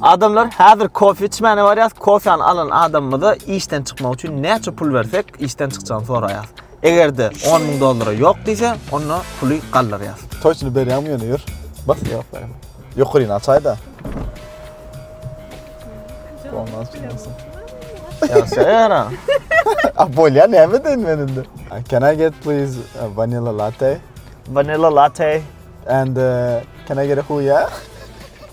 Adamlar häzir kofe içmäne barýas, kofeany alan adamymyza işden çykmak üçin näçe pul bersek, işden çykjagyny soraýas. Egerde 10 müň dollara ýok diýse, onda puly galdyrýas. Toýçyny berýäňmi ýöne ýör. Bas ýok berem. Ýokaryny açaýda. Olmaz çykarsyn. Ýa söýera. A bolýa näme deýin men indi. Can I get please a vanilla latte? Vanilla latte. And uh, can I get a huya?